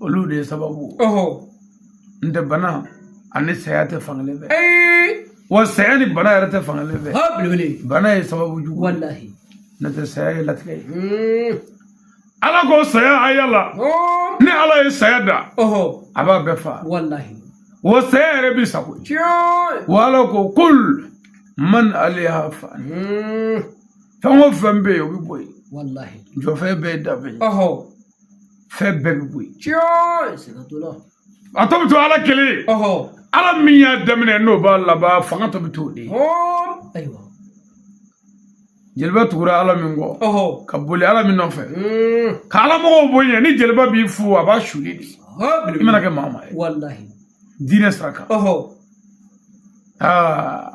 olu de ye sababu n tɛ bana ani saya tɛ fankelen fɛ wa saya ni bana yɛrɛ tɛ fankelen fɛ bana ye sababu jugu walahi ne tɛ saya ye latigɛ ye hmm. ala ko saya a yala ne ala ye saya da a b'a bɛɛ fa walahi wa saya yɛrɛ b'i sago ye wa ala ko kul man alaiha fan hmm. fɛn o fɛn bɛ yen o bɛ bɔ yen jɔfɛn bɛɛ ye danbe ye fɛn bɛɛ bɛ bɔ yen. tiɲɛ siga t'o la. a tɔ bɛ to ala kelen. ala min y'a daminɛ n'o b'a laban fanga tɔ bɛ to o de ye. ayiwa. jeliba tugura ala min kɔ ka boli ala min nɔfɛ mm. ka ala mɔgɔw bonya ni jeliba b'i fo a b'a suli de i mana kɛ maa maa ye diinɛ sira kan aa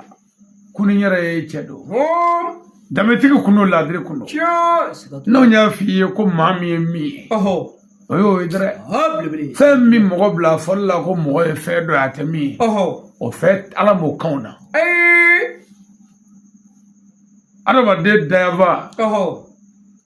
ko ni n yɛrɛ ye cɛ don danbetigi kun don laadiri kun don n'o y'a f'i ye ko maa min ye min ye o y'o ye dɛrɛ fɛn min mɔgɔ bila fɔli la ko mɔgɔ ye fɛn dɔ ye a tɛ min ye o fɛn ala m'o kanw na adamaden dayanfa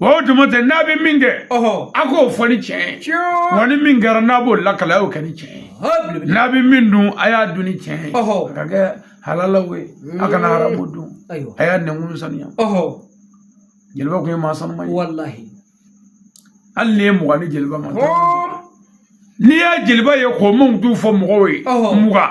o tuma tɛ n'a bɛ min kɛ a k'o fɔ ni tiɲɛ ye wa ni min kɛra n'a b'o lakali a y'o kɛ ni tiɲɛ ye n'a bɛ min dun a y'a dun ni tiɲɛ ye a ka kɛ halalaw ye a kana haramu dun a y'a nɛnkun saniya jeliba kun ye maa sanuman ye hali n'i ye mugan ni jeliba ma n'i y'a jeliba ye k'o mankutu fɔ mɔgɔw ye mugan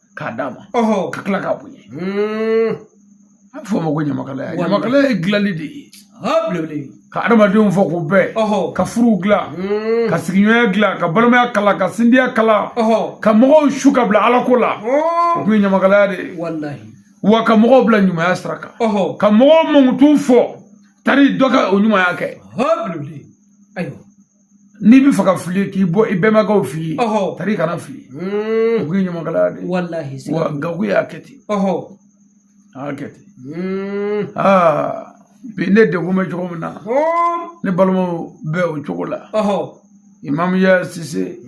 k'a d'a ma ka tila k'a bonya a bɛ fɔ o ma ko ɲamakalaya ɲamakalaya ye dilanli de ye ka adamadenw fɔ k'u bɛn ka furuw dilan ka sigiɲɔgɔnya dilan ka balimaya kala ka sindiya kala ka mɔgɔw su ka bila ala ko la o tun ye ɲamakalaya de ye wa ka mɔgɔw bila ɲumanya sira kan ka mɔgɔw mankutu fɔ tari dɔ ka o ɲumanya kɛ n'i bɛ fɛ ka fili k'i bɔ i bɛnbakɛw f'i ye tari kana fili o tun ye ɲamakalaya de wa gago y'a kɛ ten a y'a kɛ ten bi ne degun bɛ cogo min na ne balimaw bɛ o cogo la imamu ya sise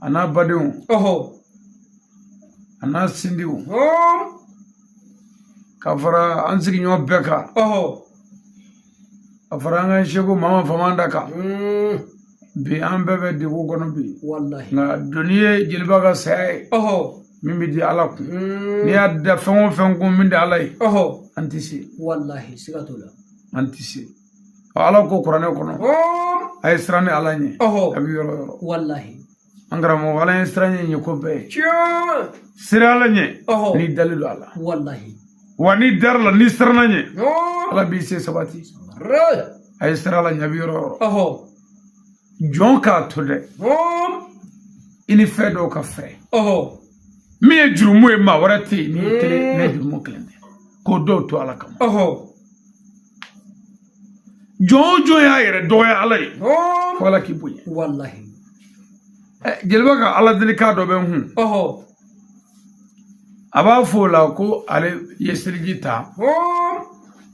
a n'a badenw a n'a sindiw ka fara an sigiɲɔgɔn bɛɛ kan a fara an ka seku mama famanta kan bi an bɛɛ bɛ degun kɔnɔ bi nka doni ye jeliba ka saya ye min bɛ da ala kun n'i y'a da fɛn o fɛn kun min tɛ ala ye an tɛ se an tɛ se ala ko kuranɛ kɔnɔ a ye siran ne ala ɲɛ a bɛ yɔrɔ o yɔrɔ an karamɔgɔ ala ye siran ɲɛ ko bɛɛ ye siran ala ɲɛ n'i dalen don a la walahi wa n'i dara a la n'i siranna a ɲɛ ala b'i se sabati a ye siran ala ɲɛ a bɛ yɔrɔ o yɔrɔ jɔn k'a to dɛ i ni fɛn dɔw ka fara min ye jurumu ye maa wɛrɛ tɛ yen n'i kelen ni jurumu kelen tɛ k'o dɔw to ala kama jɔn o jɔn y'a yɛrɛ dɔgɔya ala ye fo ala k'i bonya walahi jeliba ka ala delikan dɔ bɛ n kun a b'a fɔ o la ko ale ye seliji ta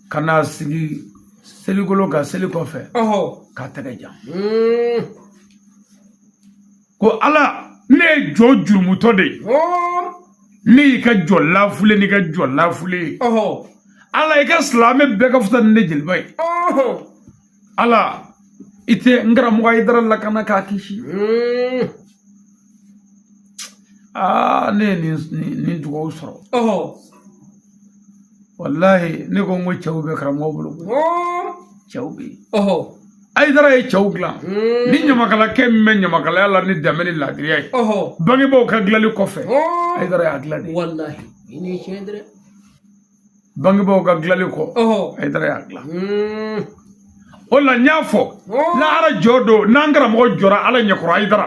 ka n'a sigi seligolo kan seli kɔfɛ k'a tɛgɛ jan ko ala ne ye jɔn jurumutɔ de ye ne y'i ka jɔn lafulen n'i ka jɔn lafulen ye ala i ka silamɛ bɛɛ ka fisa ni ne jeliba ye ala i tɛ n karamɔgɔ ayidara lakana k'a kisi hmm. aa ne ye nin nin dugawu sɔrɔ walahi ne ko n ko cɛw bɛ karamɔgɔ bolo cɛw bɛ yen ayidara ye cɛw dilan ni ɲamakalakɛ min bɛ ɲamakalaya la ni danbe ni laadiriya ye bangebaaw ka dilali kɔfɛ ayidara y'a dilan de bangebaaw ka dilali kɔ ayidara y'a dilan o la n y'a fɔ lahara jɔ don n'an karamɔgɔ jɔra ala ɲɛkɔrɔ ayidara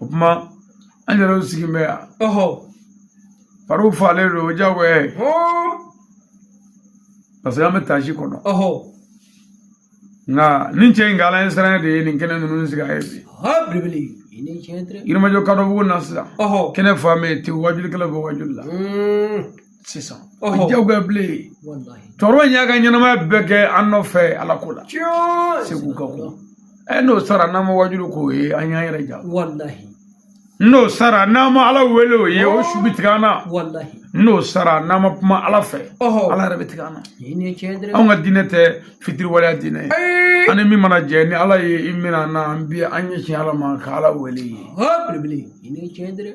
o kuma an yɛrɛw sigilen bɛ yan fariw falen don o jagoya ye parce que an bɛ taasi kɔnɔ nka nin cɛ in ka alaɲɛsiran de ye nin kɛnɛ ninnu sigi a ye bi yirimajɔ kadɔbugu na sisan kɛnɛ fan bɛ yen ten wajulikɛlaw bɛ wajuli la sisan o ye jagoya bilen ye cɛkɔrɔba in y'a ka ɲɛnamaya bɛɛ kɛ an nɔfɛ ala ko la segu ka ko ɛ n'o sara n'an ma wajuli k'o ye an y'an yɛrɛ ja n'o sara n'an ma ala wele o ye o su bɛ tigɛ an na n'o sara n'an ma kuma ala fɛ ala yɛrɛ bɛ tigɛ an na anw ka diinɛ tɛ fitiriwaleya diinɛ ye an ni min mana jɛn ni ala ye i minɛ an na an bi an ɲɛsin ala ma ka ala wele ye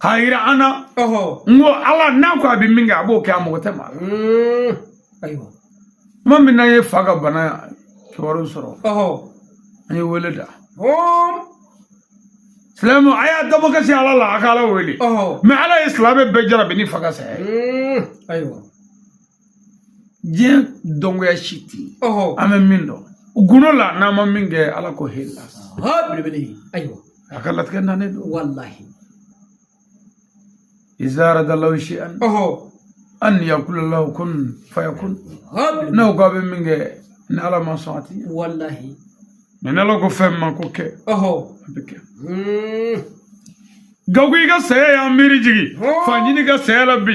k'a yira an na n ko ala n'a ko a bɛ min kɛ a b'o kɛ a mago tɛ maa la mm. ayiwa tuma min n'an ye fa ka bana kibaru sɔrɔ an ye wele da silamɛ a y'a dabɔ ka se ala la a ka ala wele mais ala ye silamɛ bɛɛ jarabi ni fa ka saya ye mm. ayiwa diɲɛ dɔngoya si tɛ yen an bɛ min dɔn gundo la n'an ma min kɛ ala ko hela belebele ayiwa a ka latigɛ nanen don walahi iza arada allahu shay'an an yaqula lahu kun fayakun n'aw ko a bɛ min kɛ ni ala ma sɔn a ti ɲɛ walahi mais ni ala ko fɛn ma ko kɛ a bɛ kɛ hmm. gago i ka saya y'an miiri jigin fa ɲini ka saya la bi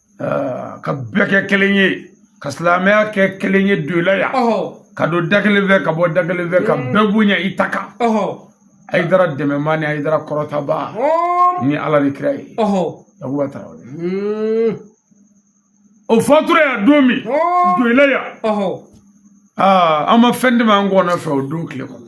ka bɛɛ kɛ kelen ye ka silamɛya kɛ kelen ye doyila yan ka don da kelen fɛ ka bɔ da kelen fɛ ka bɛɛ bonya i ta kan ayidara dɛmɛbaa ni ayidara kɔrɔtabaa ni ala ni kira ye yakuba tarawele hmm. o fatura yan don min doyila yan an ma fɛn dɛmɛ an kɔnɔ fɛ o don tile kɔnɔ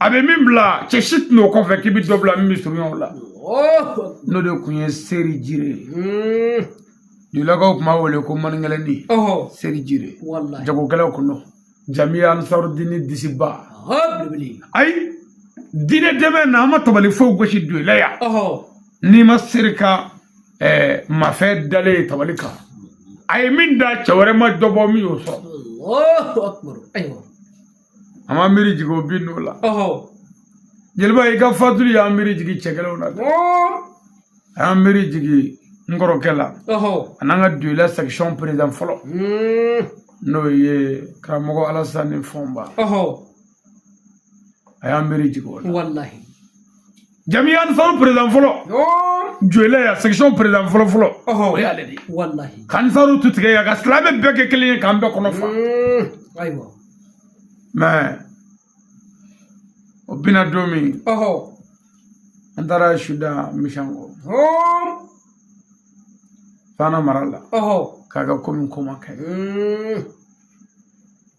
a bɛ min bila cɛ si tɛ n'o kɔfɛ k'i bɛ dɔ bila min bɛ surunya o la n'o de tun ye seri jire ye doyilakaw tun b'a wele ko maninkɛlɛni seri jire jagokɛlaw kun don jamiya ansarudini disiba ayi diinɛ dɛmɛ na an ma tabali foyi gosi doyila yan n'i ma seri ka mafɛn dalen ye tabali kan a ye min da cɛ wɛrɛ ma dɔ bɔ min y'o sɔrɔ a ma miiri jigin o bin n'o la jeliba i ka fatuli y'an miiri jigin cɛkɛlaw la dɛ a y'an miiri jigin n kɔrɔkɛ la a n'an ka doyila section président fɔlɔ hmm. n'o ye karamɔgɔ alasani fɔnba a y'an miiri jigin o la jamiya ansaru président fɔlɔ doyila yan section président fɔlɔ fɔlɔ o y'ale de ye walahi k'ansaru tu tigɛ yan ka silamɛ bɛɛ kɛ kelen ye k'an bɛɛ kɔnɔ fa ayiwa mais o bina don min an taara su da misɛn kɔ fana mara la k'a ka komi ko ma kɛ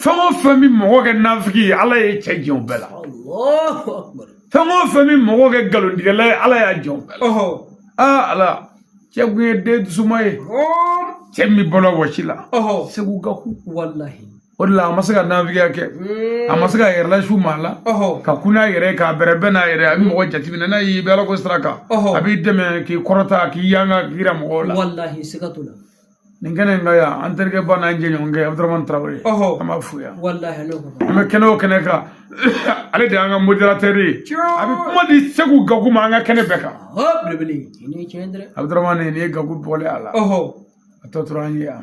fɛn o fɛn bɛ mɔgɔ kɛ nafiki ye ala ye cɛ jɛn o bɛɛ la fɛn o fɛn bɛ mɔgɔ kɛ nkalontigɛla ye ala y'a jɛn o bɛɛ la aa ala cɛ kun ye den dusuma ye cɛ min bɔra wɔsi la segu gaku walahi o de la a ma se ka nafigiya kɛ mm. a ma se k'a yɛrɛ lasiw maa la ka kun n'a yɛrɛ k'a bɛrɛ bɛn n'a yɛrɛ a bɛ mɔgɔ jateminɛ n'a y'i bɛ ala ko sira kan a b'i dɛmɛ k'i kɔrɔta k'i yanga k'i jira mɔgɔw la nin kɛnɛ in ka yan an terikɛba n'an jɛɲɔgɔnkɛ abudurahman tarawele an b'a fo yan an bɛ kɛnɛ o kɛnɛ kan ale de y'an ka modérateur ye a bɛ kuma di segu gaku ma an ka kɛnɛ bɛɛ kan abudurahman nin ye gaku bɔlen a la a tɔ tora an ye yan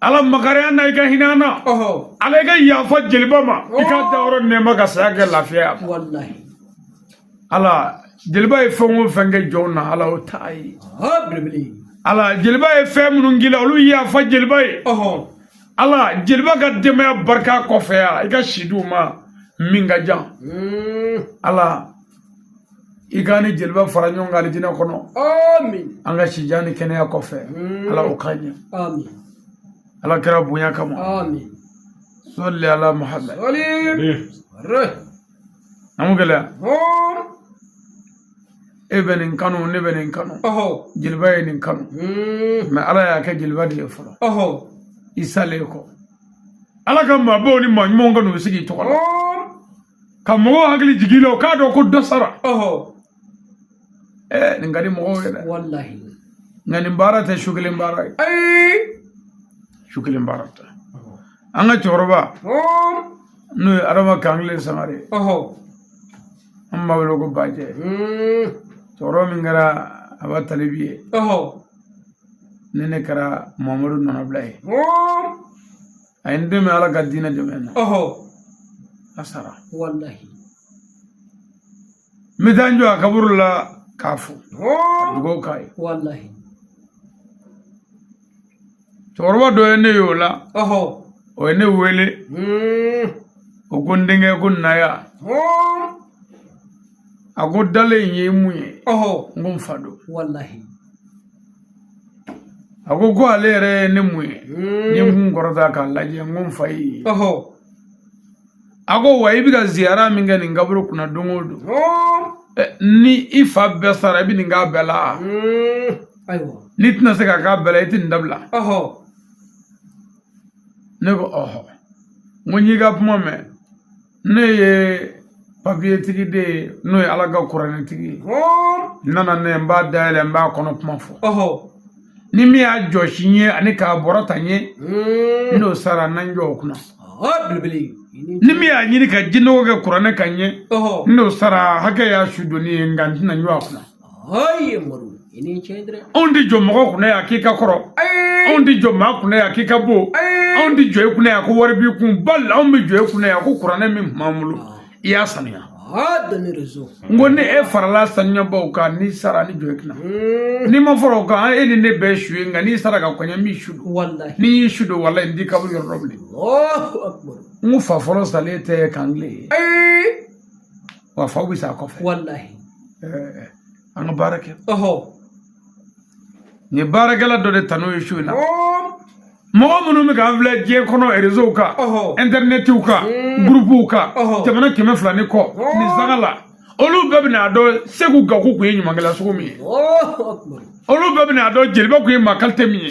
ala makari a na i ka hin'a na ala i ka yafa jeliba ma i ka dayɔrɔ nɛɛma ka saya kɛ lafiya ye ala jeliba ye fɛn o fɛn kɛ jɔnw na ala o t'a ye ala jeliba ye fɛn minnu k'i la olu yafa jeliba ye ala jeliba ka denbaya barika a kɔfɛ yan i ka si di u ma min ka jan hmm. ala i k'an ni jeliba fara ɲɔgɔn kan alijinɛ kɔnɔ an ka sijan ni kɛnɛya kɔfɛ ala o k'an ye ala kira bonya kama sali ala muhamad namu gɛlɛya e bɛ nin kanu ne bɛ nin kanu jeliba ye nin kanu mɛ ala y'a kɛ jeliba de ye fɔlɔ i salen kɔ ala ka maabaw ni maa ɲumanw ka n'u sigi i tɔgɔ la ka mɔgɔw hakili jigi la u k'a dɔn ko dɔ sara ɛɛ nin ka di mɔgɔw ye dɛ walahi nka nin baara tɛ su kelen baara ye ayi su kelen baara tɛ an ka cɛkɔrɔba n'o ye adama kankelen sangare an b'a wele ko bajɛ hmm. cɛkɔrɔba min kɛra aba talibi ye ne ne kɛra mamadu nɔnabila ye a ye n dɛmɛ ala ka diinɛ dɛmɛ na ɔhɔ a sara walahi n bɛ taa n jɔ a kaburu la k'a fo dugawu k'a ye walahi cɛkɔrɔba dɔ ye ne ye o la ɔhɔ o ye ne wele hmm. o ko n denkɛ ko na yan a ko dalen in ye mun ye ɔhɔ n ko n fa don walahi a ko ko ale yɛrɛ ye ne mun ye n ye n kun kɔrɔta k'a lajɛ n ko n fa ye a ko wa i bɛ ka ziyara min kɛ nin kaburu kunna don o don ni i fa bɛɛ sara i bɛ nin k'a bɛɛ la n'i tɛna se k'a k'a bɛɛ la i tɛ nin dabila ne ko ɔhɔ n ko n y'i ka kuma mɛn ne ye papiyetigi de ye n'o ye ala ka kuranɛtigi ye n nana ne n b'a dayɛlɛ n b'a kɔnɔ kuma fɔ ni min y'a jɔsi n ye ani k'a bɔrɔ ta n ye hmm. n'o sara n na n jɔ o kunna ni min y'a ɲini ka jinɔgɔ kɛ kuranɛ kan n ye n'o sara hakɛ y'a su donni ye nka n tɛna n jɔ a kunna anw tɛ jɔ mɔgɔ kunna yan k'i ka kɔrɔ anw tɛ jɔ maa kunna yan k'i ka bon anw tɛ jɔ i kunna yan ko wari b'i kun bali anw bɛ jɔ i kunna yan ko kuranɛ min tun b'an bolo i y'a sanuya n ko ni e farala sanuyabaw kan n'i sara ni jɔ i kunna n'i ma fara o kan e ni ne bɛɛ su ye nka n'i sara ka kɔn n ɲɛ n b'i su don ni n y'i su don walayi n t'i kaburu yɔrɔ dɔn bilen n ko fa fɔlɔ salen tɛ kankelen ye wa faw bɛ sa a kɔfɛ walahi eh, an ka baara kɛ ɔhɔ nin ye baarakɛla dɔ de tanu ye su in na mɔgɔ minnu bɛ k'an filɛ diɲɛ kɔnɔ rezow kan intɛrinɛtiw kan gurupuw kan jamana kɛmɛ fila ni kɔ nin sanga la olu bɛɛ bɛna a dɔn seku gaku kun ye ɲumankɛla sugu min ye olu bɛɛ bɛna a dɔn jeliba kun ye maa kalite min ye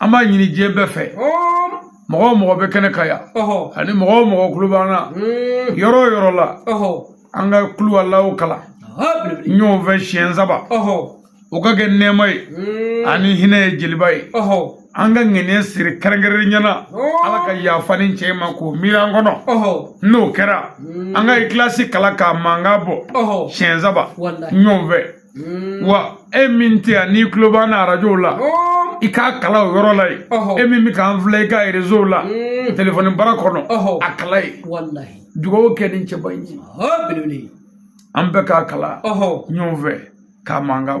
an b'a ɲini diɲɛ bɛɛ fɛ mɔgɔ o mɔgɔ bɛ kɛnɛ kan yan ani mɔgɔ o mɔgɔ kulo b'an na hmm. yɔrɔ o yɔrɔ la an ka kuluwalawu kalan ɲɔgɔn fɛ siɲɛ saba o ka kɛ nɛɛma ye hmm. ani hinɛ ye jeliba ye an ka ŋaniya siri kɛrɛnkɛrɛnnenya na ala ka yafa nin cɛ ma k'o miiri an kɔnɔ n'o kɛra hmm. an ka ikilasi kalan k'a mankan bɔ siɲɛ saba ɲɔgɔn fɛ mm. wa e min tɛ yan n'i tulo b'an na arajow la oh. i k'a kalan o yɔrɔ la yen e min bɛ k'an filɛ i ka rezo la mm. telefɔni bara kɔnɔ a kalan yen dugawu kɛ nin cɛba in ye an bɛɛ k'a kalan ɲɔgɔn fɛ k'a mankan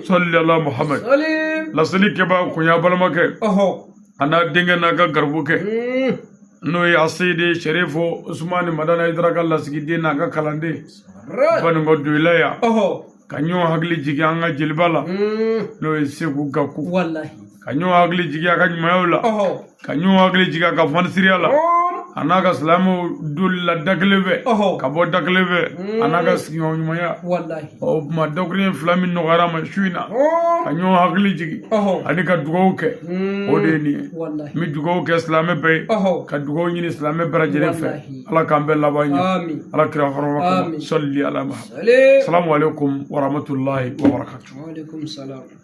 sɔli ala muhamad laseli kɛbaa kun y'a balimakɛ a n'a denkɛ n'a ka garibukɛ hmm. n'o ye aseyide sɛrifo usumani madani ayidara ka lasigiden n'a ka kalanden banko doyila yan ka ɲɔgɔn hakili jigin an ka jeliba la hmm. n'o ye segu gaku ka ɲɔgɔn hakili jigin a ka ɲumanyaw la ka ɲɔgɔn hakili jigin a ka fanisiriya la a n'a ka silamɛw donli la da kelen fɛ ka bɔ da kelen fɛ a n'a ka sigiɲɔgɔn ɲumanya o tuma dakuruɲɛ fila min nɔgɔyara n ma su in na ka ɲɔgɔn hakili jigin ani ka dugawu kɛ o de ye nin ye n bɛ dugawu kɛ silamɛ bɛɛ ye ka dugawu ɲini silamɛ bɛɛ lajɛlen fɛ ala k'an bɛɛ laban ɲɛ ala kira hɔrɔma kɔnɔ sɔli ala muhamad salamu aleykum wa rahmatulahi wa barakatu